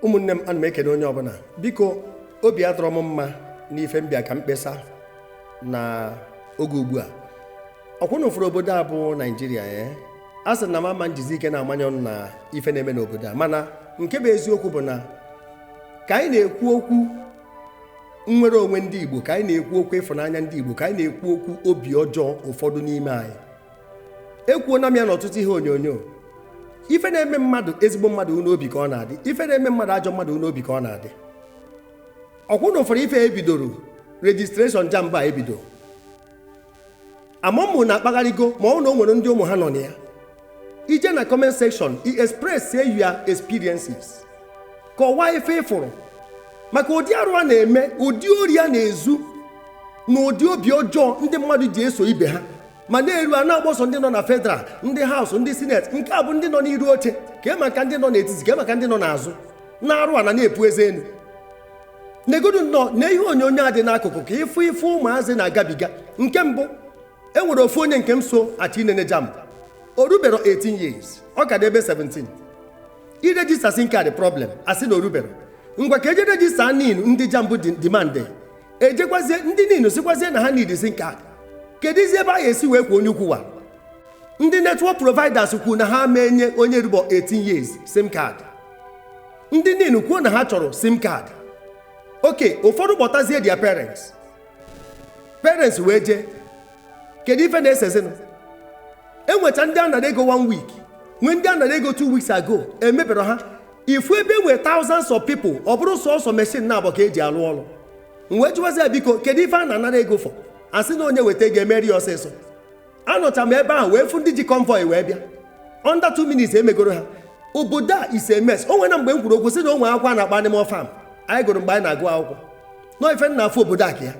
ụmụnne m ana m ekene onye ọbụla biko obi adịrọ m mma n'ife m bịa ka m kpesa na oge ugbu a ọkwa unu fụrụ obodo a bụ naijiria ya eh? a sị na m ama njizi ike na-amanye ọnụ na ife na-eme n'obodo a mana nke bụ eziokwu bụ na ka anyị na-ekwu okwu nnwere onwe ndị Igbo ka anyị na-ekwu okwu ịfụnanya ndị Igbo ka anyị na-ekwu okwu obi ọjọọ ụfọdụ n'ime anyị ekwuona m ya n'ọtụtụ ihe onyonyo ife na-eme mmadụ ezigbo mmadụ ọ n'obi ka ọ na-adị ife na-eme mmadụ ajọ mmadụ ọ n'obi ka ọ na-adị ọkwa unu fụrụ ife e bidoro registration jamb a ebido amamụ na-akpagharịgo ma ọ na o nwere ndị ụmụ ha nọ na ya i jee na comment section i express your experiences kọwaa ife ị fụrụ maka ụdị arụ a na-eme ụdị ori a na-ezu na ụdị obi ọjọọ ndị mmadụ ji eso ibe ha mana e ruo a na-akpọ sọ ndị nọ na federal ndị house ndị senate nke a bụ ndị nọ n'iru oche kee maka ndị nọ n'etiti kee maka ndị nọ n'azụ na-arụ ana na-epu eze enu negodu nnọọ na ihe onyonyo a dị n'akụkụ ka ị fụ ife ụmụazị na-agabiga nke mbụ e nwere ofu onye nke m so achọ inene jamb o rubero 18 years ọ ka dị ebe 17 iregister sim card problem a sị na o rubero ngwa ka e jee register nin ndị jamb demand ejekwazie ndị nin sịkwazie na ha needizi sim card keduzi ebe a ga-esi wee kwọọ onye ukwu wa ndị network providers kwuo na ha ama enye onye rubọ 18 years sim card ndị nin kwuo na ha chọrọ sim card okay ụfọdụ kpọtazie their parents parents wee jee kedu ife na-esezinụ e nwecha ndị a nara ego one week nwee ndị a nara ego two weeks ago emebero ha ị fụ ebe e nwee thousands of people ọ bụrụ sọsọ machine naabọ ka e ji alụ ọrụ m wee jụwazi ya biko kedu ife a na-anara ego for a sị na onye weta ego emeri ya ọsịsọ anọcha m ebe ahụ wee fụ ndị ji convoy wee bịa under two minutes emegoro ha obodo a is a mess o nwere mgbe m kwuru okwu sị na o nwere akwụkwọ a na-akpọ animal farm anyị gụrụ mgbe anyị na-agụ akwụkwọ na ọ ife m na-afụ obodo a ka ya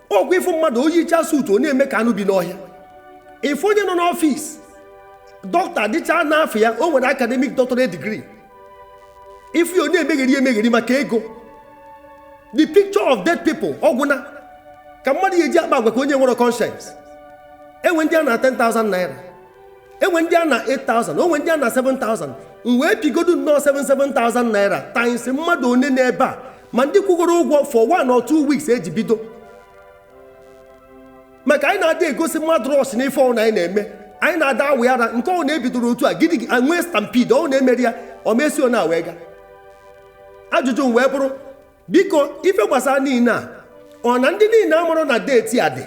ọkwa ị fụ mmadụ o yicha suit ọ na-eme ka anụ bi n'ọhịa ị fụ onye nọ n'office dọkịta dịcha n'afa ya o nwere academic doctorate degree ị fụ ya ọ na-emegheri emegheri maka ego the picture of dead people ọgwụna ka mmadụ ya eji akpa agwa ka onye nwere conscience e nwee ndị a na 10,000 naira e nwee ndị a na 8000 o nwee ndị a na 7000 m wee pịgodu nnọọ 7 7000 naira times mmadụ one n'ebe a ma ndị kwụgoro ụgwọ for one or two weeks e ji bido maka anyị na-ada egosi mmadụ rush n'ife ọbụna anyị na-eme anyị na-ada awụ ara nke ọ na-ebidoro otu a gidi nwee stampede ọ na-emeri ya ọ mesio na wee ga ajụjụ m wee bụrụ biko ife gbasara nin a ọ na ndị niile a mụrụ na deeti a dị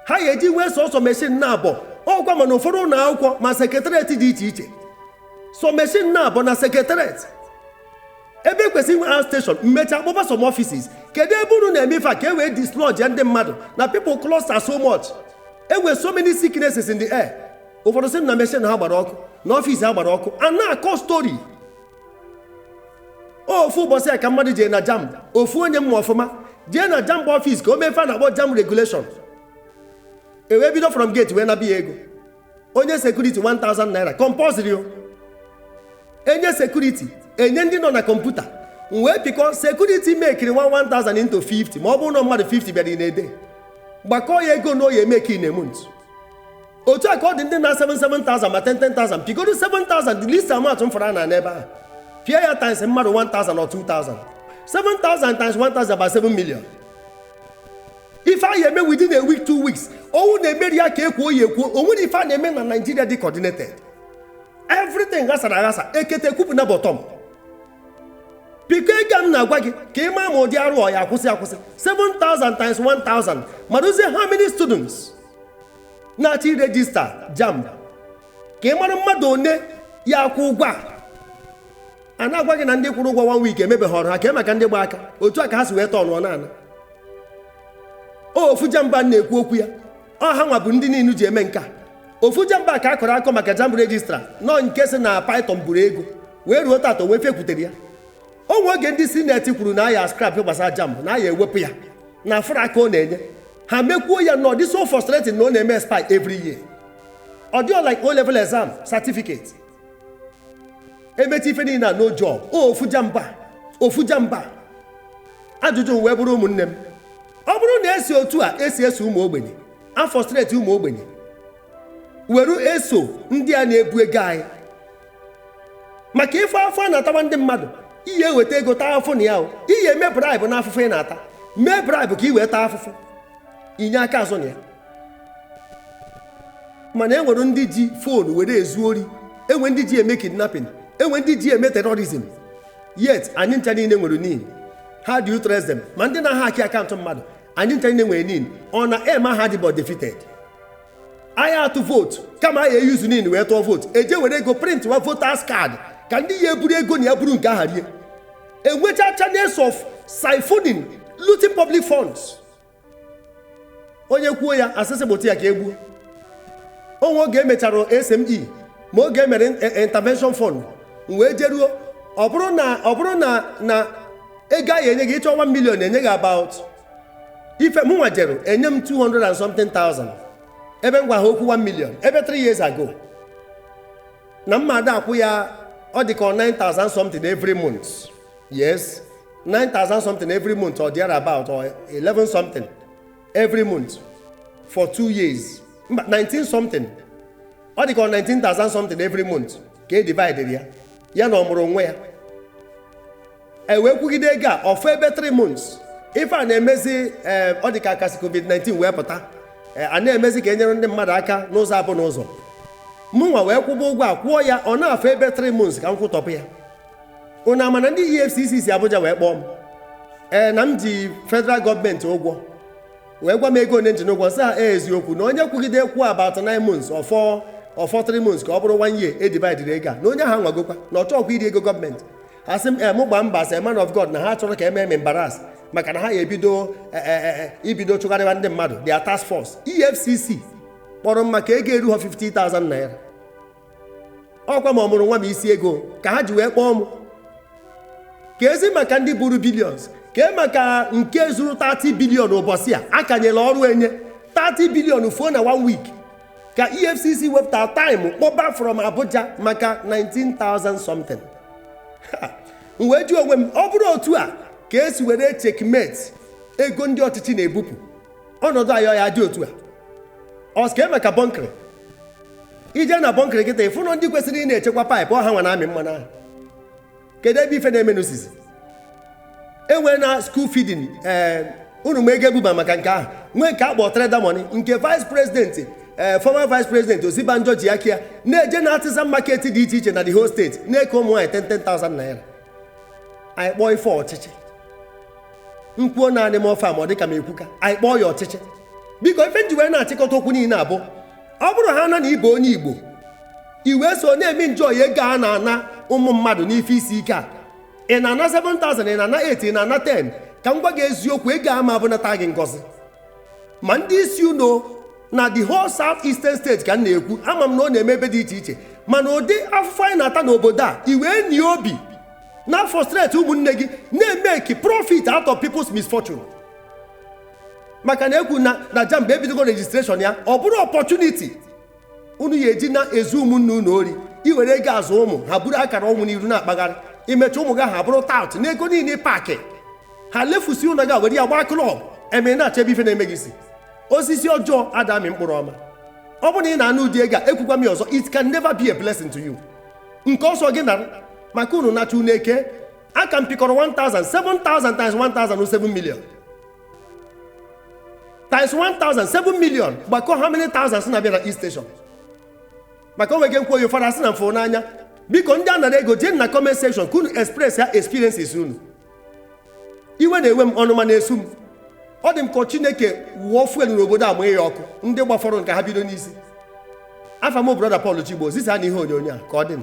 ha ya eji nwee sọsọ meshin naabọ ọkwa ma na ụfọdụ ụlọ akwụkwọ ma sekretariat dị iche iche sọ meshin naabọ na sekretariat ebe ekwesịrị inwe a steshọn mmechi akpọba some offices kedu ebe unu na-eme ife a ka e wee dislodge ndị mmadụ na people cluster so much e nwee so many sicknesses in the air ụfọdụ sị na meshin ha gbara ọkụ na ọfis ha gbara ọkụ a na-akọ story ofu ụbọchị a ka mmadụ jee na jamb ofu onye m ma ọfụma jee na jamb ọfis ka o mee ife a na-akpọ jamb regulation e wee bido from gate wee naba ya ego onye sekuriti 1000 naira compulsory o enye sekuriti enye ndị nọ na kọmputa m wee pịkọ sekuriti mekiri 1000 into 50 ma ọ bụrụ na mmadụ 50 bịara in a day gbakọọ ya ego na ọ ya emeki in a month otu a ka ọ dị ndị na 7,000 ma 10,000 pịgodo 7,000 the least amount m fụrụ na n'ebe ahụ pịa ya times mmadụ 1,000 or 2,000 7,000 times 1,000 bụ 7 million ife a ya eme within a week two weeks owu na-emeri ya ka ekwuo ya ekwuo o nwere ife a na-eme na Nigeria dị coordinated everything ghasara aghasa ekete kwupụ na bottom pịkọọ ego a m na-agwa gị ka ị maa ma ụdị arụ ọ ya akwụsị akwụsị 7,000 times 1,000 marazie how many students na-achọ irejista jamb ka ị mara mmadụ one ya akwụ ụgwọ a a na-agwa gị na ndị kwụrụ ụgwọ one week emebeghị ọrụ ha kee maka ndị gba aka otu a ka ha si wee tọnụọ na ana ofu jamb a na-ekwu okwu ya ọ ha nwa bụ ndị niile ji eme nke a ofu jamb a ka a kọrọ akọ maka jamb registrar nọ nke sị na python buru ego wee ruo tata o nwee ife kwutere ya o nwe oge ndị senate kwuru na a ya scrap gbasara jamb na a ya ewepụ ya na afụrọ aka ọ na-enye ha mekwuo ya na ọ dị so frustrating na ọ na-eme expire every year ọ dịrọ like o level exam certificate emechaa ife niile na no job o ofu jamb a ofu jamb a ajụjụ m wee bụrụ ụmụnne m ọ bụrụ na esi otu a esi eso ụmụ ogbenye afrustrate ụmụ ogbenye were eso ndị a na-ebu ego anyị maka ife afụ a na-atawa ndị mmadụ ị ya eweta ego taa afụfụ na ya o ị ya eme bribe na afụfụ ị na-ata mee bribe ka i wee taa afụfụ inye aka azụ na ya mana e nwere ndị ji phone were ezu ori enwe ndị ji eme kidnapping enwe ndị ji eme terrorism yet anyị ncha niile nwere nin how do you trace ma ndị na-ahaki akaụntụ mmadụ anyị ncha niile nwere nin ọ na aim ha dị bụ defeated a ya atụ vote kama a ya e-use NIN wee tụọ vote eje were ego print wa voters card ka ndị ya eburu ego na ya buru nke ha rie enwecha channels of siphoning looting public funds onye kwuo ya asịsị gbụta ya ka egbuo o nwe oge emechara SME ma oge emere in- intervention fund m wee jeruo ọ bụrụ na ọ bụrụ na na ego a ya enye gị ịchọ 1 million enye gị about ife mụnwa jere enye m 200 and something thousand ebe m gwa ha okwu 1 million ebe 3 years ago na mmadụ akwụ ya ọ dị ka ọ 9000 something every month yes 9000 something every month or there about or 11 something every month for 2 years mba 19 something ọ dị ka ọ 19000 something every month ka edividere ya ya na ọmụrụ nwa ya e wee kwụgide ego a ọ fọ ebe 3 months ife a na-emezi eh, ọ dị ka a ka si covid-19 wee pụta eh, a na-emezi ka enyere ndị mmadụ aka n'ụzọ abụ n'ụzọ mụnwa wee kwụba ụgwọ a kwụọ ya ọ na-afọ ebe 3 months ka m kwụtọpụ ya unu ama na ndị efcc si abuja wee kpọọ m ee eh, na m ji federal gọọmenti ụgwọ wee gwa m ego one m ji n'ụgwọ sị ha e eziokwu na onye kwụgide kwụọ about 9 months ọ fọ ọ fọ 3 months ka ọ bụrụ one year edivide ego a na onye ahụ anwagokwa na ọ chọọkwa iri ego gọọmenti asị m mụ gbaa mbọ as man of god na ha achọrọ ka emee m embarrass maka na ha ya ebido e, e, e, ibido chụgharịwa ndị mmadụ their task force efcc kpọrọ m maka ego eruhọ 50,000 naira ọkwa ma ọmụrụ nwa ma isi ego ka ha ji wee kpọọ m keezi maka ndị buru billions kee maka nke zuru 30 billion ụbọchị a a ka nyere ọrụ enye 30 billion fuo na one week ka efcc wepụta time kpọba from abuja maka 19,000 something Ha! m wee jụọ onwe m ọ bụrụ otu a ka esi were echeckmate ego ndị ọchịchị na-ebupụ ọnọdụ anyị ọ ya adị otu a ọ sị kee maka bunkery i je na bunkery kịta ị fụ na ndị kwesịrị ị na-echekwa pipe ọ hanwa na-amị mmanụ ahụ kedu ebe ife na-emenụ sizi enwere na school feeding ee eh, unu ma ego ebuba maka nke ahụ nwee nke akpọ trader money nke vice president ee eh, former vice president Osinbajo ji aka ya na-eje na artisan market dị iche iche na the whole state na-eke ụmụ nwaanyị 10,000 naira anyị kpọọ ife ọchịchị m kwuo naanị m ọfa ma ọ dịka m ekwuka anyị kpọọ ya ọchịchị biko ife m ji wee na-achịkọta okwu niile a bụ ọ bụrụ hana na ị bụ onye igbo i wee so na-eme njọ ya ego a na-ana ụmụ mmadụ n'ife isi ike a ị na-ana 7000 ị na-ana 8 ị na-ana 10 ka m gwa gị eziokwu ego a ama abụnata gị ngọzi ma ndị isi unu na the whole south eastern state ka m na-ekwu ama m na ọ na-eme ebe dị iche iche mana ụdị afụfụ anyị na-ata n'obodo a i wee nwee obi na-afrustrate ụmụnne gị na-emake profit out of people's misfortune maka na ekwu na na jamb ebidogo registration ya ọ bụrụ opportunity unu ya eji na-ezu ụmụnne unu ori iwere ego azụ ụmụ ha buru akara ọnwụ n'iru na-akpagharị imecha ụmụ gị ha bụrụ tout na ego niile paakị ha lefusi ụlọ gị were ya gbaa club eme na-achọ ebe ife na-eme gị si osisi ọjọọ ada amị mkpụrụ ọma ọ bụrụ na ị na-anụ ụdị ego a ekwukwa m ya ọzọ it can never be a blessing to you nke ọ sọ gị nara maka unu nacha unu eke a ka m pịkọrọ 1000 7000 times 1000 wụ 7 million times 1000 7 million gbakọ how many thousands na-abịa na each station maka o nwege nkwoyo fara sị na mfụ n'anya biko ndị a nara ego jee na comment section ka unu express ya experiences unu iwe na-enwe m ọnụma na-esu m ọ dị m ka chineke wụọ fuel n'obodo a mụnye ya ọkụ ndị gbafọrọ ka ha bido n'isi afa m brọda Paul Chigbo zisanụ ihe onyonyo a ka ọ dị m